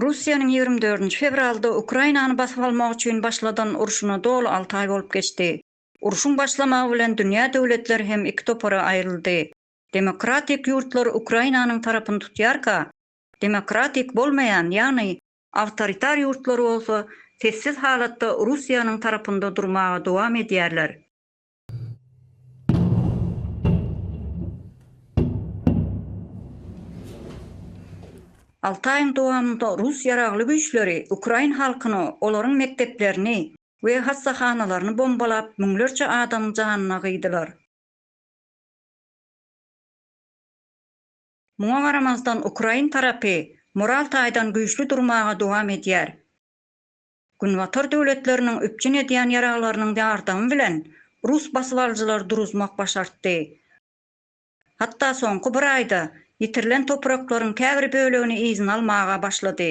Russiýanyň ýigrimi dördünji fewralda Ukrainany basyp almak üçin başladan urşuna doly alty aý bolup geçdi. Urşuň başlamagy bilen dünýä döwletleri hem iki topara aýryldy. Demokratik ýurtlar Ukrainanyň tarapyny tutýarka, Demokratik bolmaýan, ýagny awtoritar ýurtlar bolsa sessiz halatda Russiýanyň tarapynda durmaga dowam edýärler. Alty aýyň dowamynda rus ýaragly güýçleri ukrain halkyny, olaryň mekdeplerini we hassahanalaryny bombalap, müňlerçe adamyň janyna gyýdylar. Muňa garamazdan ukrain tarapy moral taýdan güýçli durmaga dowam edýär. Günbatar döwletleriniň üpjün edýän ýaraglarynyň ýardamy bilen rus basybalyjylary duruzmak başartdy. Hatda soňky bir aýda ýitirilen topraklaryň käbir bölegini yzyna almaga başlady.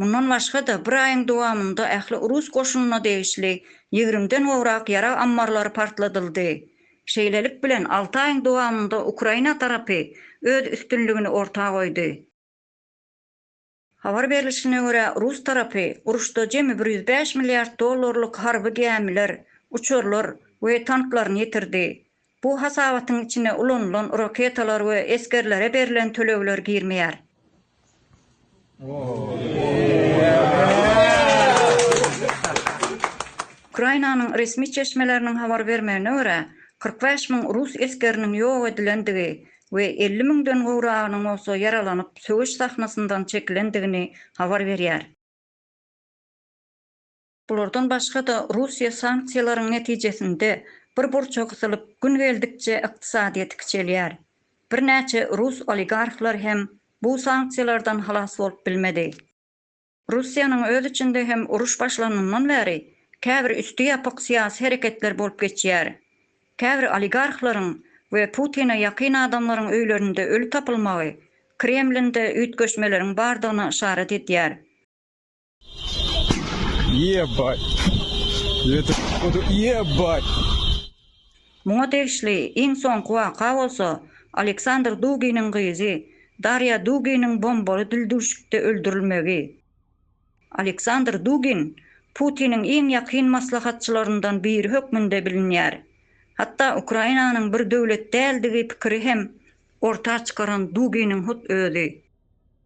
Mundan başga-da, bir aýyň dowamynda ähli rus goşunyna degişli ýigrimiden gowrak ýarag ammarlary partladyldy. Şeýlelik bilen, alty aýyň dowamynda Ukraina tarapy öz üstünligini orta goýdy. Habar berlişine görä, rus tarapy uruşda jemi bir ýüz bäş milliard dollarlyk harby gämiler, uçarlar we tanklaryny ýitirdi. Bu hasabatyň içine ulanylan raketalar we esgerlere berlen tölegler girmeýär. Ukrainanyň resmi çeşmeleriniň habar bermegine görä, kyrk bäş müň rus esgeriniň ýok edilendigi we elli müňden gowragynyň bolsa ýaralanyp, söweş sahnasyndan çekilendigini habar berýär. Bulardan başga-da, Russiýa sanksiýalaryň netijesinde bir burça gysylyp, gün geldikçe ykdysadyýeti kiçelýär. Birnäçe rus oligarhlary hem bu sanksiýalardan halas bolup bilmedi. Russiýanyň öz içinde hem uruş başlanyndan bäri käbir üsti ýapyk syýasy hereketler bolup geçýär. Käbir oligarhlaryň we Putine ýakyn adamlaryň öýlerinde öli tapylmagy Kremlinde üýtgeşmeleriň bardygyna yşarat edýär. Ýebay. Ýebay. Muňa degişli iň soňky waka bolsa Aleksandr Duginiň gyzy Darýa Duginiň bombaly dildüwşükde öldürilmegi. Aleksandr Dugin Putiniň iň ýakyn maslahatçylaryndan biri hökmünde bilinýär. Hatda Ukrainanyň bir döwlet däldigi pikiri hem orta çykaran Duginiň hut özi.